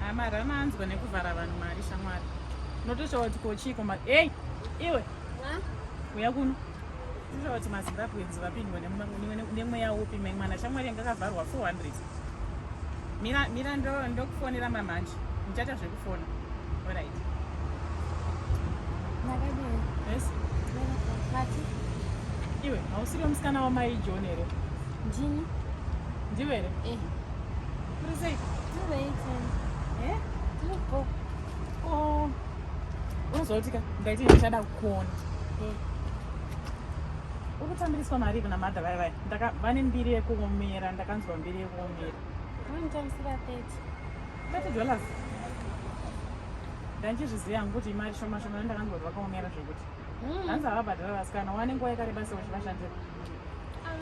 Haa mari anoanzwa nekuvhara vanhu mari shamwari. Unotoshava kuti kochiiko mari. Hey! Iwe! Uya kuno. Unotoshava kuti maZimbabweans vapindwa nemweya upi mai mwana shamwari yanga akavharwa 400. Mira, mira ndokufonera ndo mamanje. Muchaita zvekufona. Alright. Makadini? Yes. Mati? Iwe, hausiri musikana wamai John here? Ndini. Ndiwe here? Eh. unozotika ndaiti ndichada kukuona ukutambiriswa mari kuna madha vaya vaya vane mbiri yekuomera ndakanzwa mbiri yekuomera dollars ndandichizviziva yangu kuti imari shoma shoma ndakanzwa kuti vakaomera zvekuti hmm. hanzi havabhadhara vasikana wane nguva yakareba seuchivashandira ah,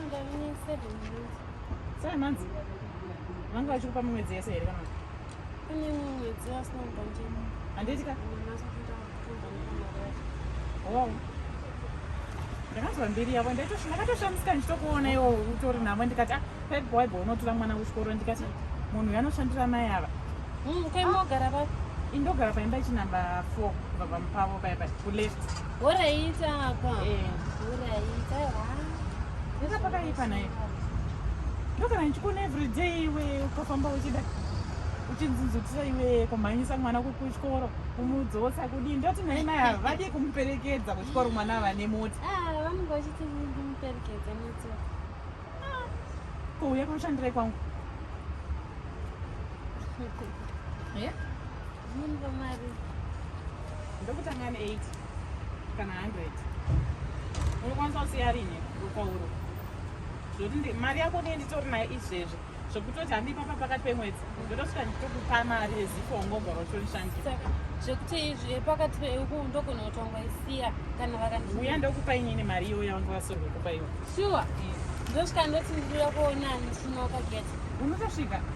Sai manzi vanga vachikupa mimwedzi yese here kana pane mimwedzi asina kubva ndimo handiti ka oh. ndakanzwa mbiri yavo ndakatoshamisika ndichitokuona iwo utori navo ndikati ah, pep waibo unotora mwana kuchikoro ndikati munhu uyo anoshandira mai ava hmm, kaimogara pa indogara paimba ichinamba four kubva pamupavo paya pa kuleft Horaita apa. Eh. Horaita. Nenda pakaipa naye. Ndokana ndichikuona every day iwe ukafamba uchida uchinzinzutisa iwe kumhanyisa mwana kuchikoro kumudzotsa kudii ndoti nai mai havadi kumuperekedza kuchikoro mwana vane moti ah, vanenge vachiti ndimuperekedza moti ah, kouya kunoshandirai kwangu ndokutanga ne 8 kana 100 unokwanisa kusiya rine rupauro zvekuti mari yako ndiye nditori nayo izvezvi zvekutoti handipapa pakati pemwedzi ndotosvika nditokupa mari yezipo ungobva rotorishandisa zvekuti izvi pakati peuku ndogona kuti wangaisiya kana vakandiuya ndokupa inini mari iyo yavanga vasorwe kupa iwo shuwa ndosvika ndoti ndikuda kuona ndisvinoka geta unotosvika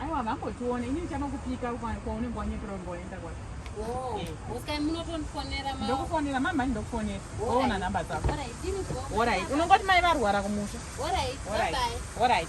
aiwa vangotiona ini ndichanokupika kwaunenge wanyepera unenge waenda kwacho ndokufonera mama ndokufonera woona nhamba dzako orit unongoti mai varwara kumusha orit